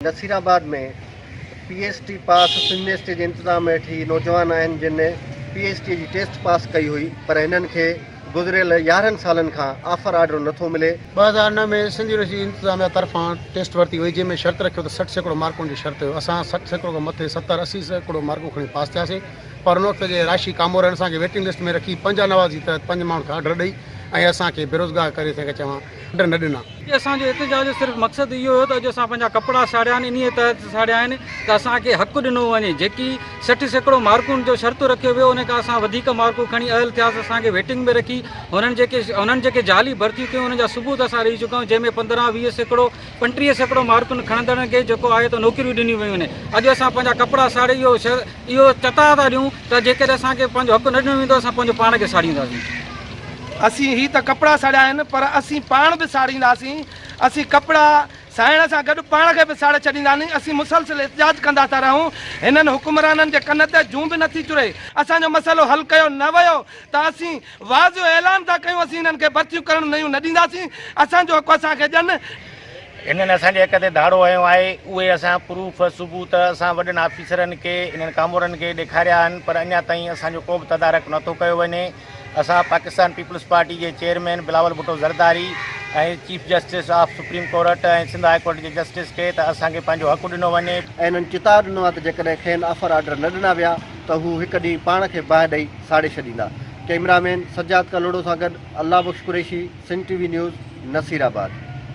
نصير آباد ۾ P H D pass semester جي انتظام هيٺ هي نوجوان آهن جن پي ايڇ ڊي جي ٽيسٽ پاس ڪئي هئي پر هنن کي گذريل يارهن سالن کان آفر آرڊر نٿو ملي. ٻه هزار نو ۾ سنڌ يونيورسٽي انتظاميا طرفان ٽيسٽ ورتي وئي جنهن ۾ شرط رکيو ته سٺ سيڪڙو مارڪن جو شرط هيو اسان سٺ سيڪڙو کان مٿي ستر اسي سيڪڙو مارڪون کڻي پاس ٿياسين پر ان وقت جي راشي ڪامو رهڻ اسان کي ويٽنگ لسٽ ۾ رکي پنجا نوازي تحت پنج ماڻهن کي آرڊر ڏئي ۽ اسان کي بيروزگار ڪري ٿي چوان آرڊر نه ڏنا. اسان جي احتجاج جو صرف مقصد اهو هيو ته اڄ اسان پنهنجا ڪپڙا ساڙيا آهن انهيء تحت ساڙيا آهن ته اسان کي حق ڏنو وڃي جيڪي سٺ سيڪڙو مارڪون جو شرط رکيو ويو ان کان اسان وڌيڪ مارڪون کڻي اهل ٿياسين اسان کي ويٽنگ ۾ رکي هنن جيڪي هنن جيڪي جعلي ڀرتيون ڪيون ان جا ثبوت اسان ڏئي چڪا آهيون جنهن ۾ پندرهن ويهه سيڪڙو پنٽيهه سيڪڙو مارڪون کڻندڙن کي جيڪو آهي ته نوڪريون ڏنيون ويون آهن اڄ اسان پنهنجا ڪپڙا ساڙي اهو اهو چتاء ٿا ڏيون ته جيڪڏهن اسان کي پنهنجو حق نه ڏنو ويندو اسان پنهنجو پاڻ کي ساڙينداسين اسين هي ته ڪپڙا ساڙيا آهن پر اسين پاڻ به ساڙينداسين اسين ڪپڙا سائڻ سان گڏ پاڻ کي به ساڙي ڇڏينداسين اسين مسلسل احتجاج ڪندا ٿا رهون هنن حڪمرانن جي ڪن تي جون به نٿي چري اسان جو مسئلو حل ڪيو نه ويو ته اسين واز جو اعلان ٿا ڪيون اسين انهن کي برسيون ڪرڻ نيون نه ڏينداسين اسان جو حق اسان کي ڏين. انهن اسان جي حق تي ڌاڙو هنيو آهي اهي اسان پروف، ثبوت، اسان وڏن آفيسرن کي انهن ڪامورن کي ڏيکاريا آهن پر اڃا تائين اسان جو ڪو به تدارڪ نه ٿو ڪيو وڃي اسان پاڪستان پيپلز پارٽي جي chairman Bilawal Bhutto Zardari ۽ chief justice of supreme court ۽ Sindh high court جي جسٽس کي ته اسان کي پنهنجو حق ڏنو وڃي. ۽ انهن چتاء ڏنو آهي ته جيڪڏهن کين آفر آرڊر نه ڏنا ويا ته هو هڪ ڏينهن پاڻ کي باهه ڏئي ساڙي ڇڏيندا. ڪئميرا مين سجاد ڪلهوڙو سان گڏ Allah Bakhsh Qureshi, Sindh T V news, Nasirabad.